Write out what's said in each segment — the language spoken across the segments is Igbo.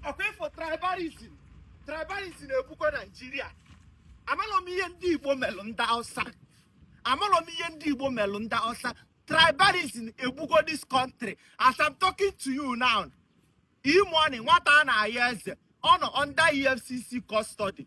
ọ kwa ị fụ tribalism tribalism na-egbukwa naijiria amalọ m ihe ndị igbo melụ ndị hausa amalọ m ihe ndị igbo melụ ndị hausa tribalism egbugo this country as i'm talking to you now e-money nwata a na-ayọ eze ọ nọ under efcc custody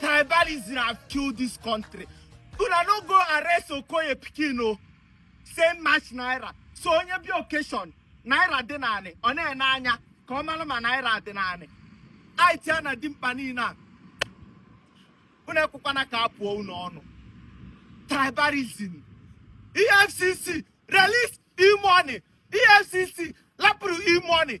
tribalism have killed this country una no go arrest okoye pikin o same match naira so onye bịa occasion naira dị n'anị ọ na-ene anya ka ọ mara ma naira dị n'anị it a na dimkpa niile a unu ekwekwana ka a pụọ unu ọnụ tribalism efcc release e-money efcc lapụrụ e-money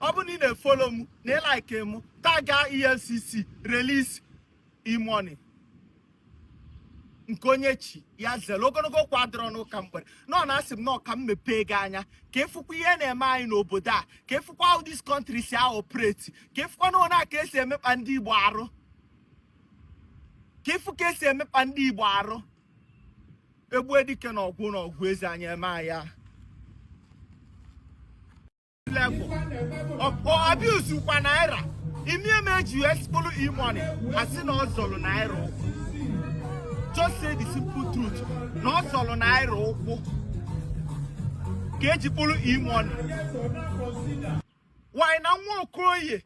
ọ bụrụ na ị na-efollow m na ị like m taga efcc release e-money nke onye chi ya zere ogologo okwu adịrọ n'ụka mgbede na ọ na-asị m na ọ ka m mepee gị anya ka ị fụkwa ihe na-eme anyị n'obodo a ka ị fụkwa how this country si a-operate ka ị fụkwa nna ka esi emekpa ndị igbo arụ ka ị fụ ka esi emekpa ndị igbo arụ egbue dike n'ọgụ n'ọgụ ezi anyị eme anyị ahụ level ọpọ abuse kwa naira ị ma ihe me eji kpụlụ e money a sị na ọ zọlụ naira ụkwụ just say the simple truth na ọ zọlụ naira ụkwụ ka eji kpụrụ e money why na nwa okoye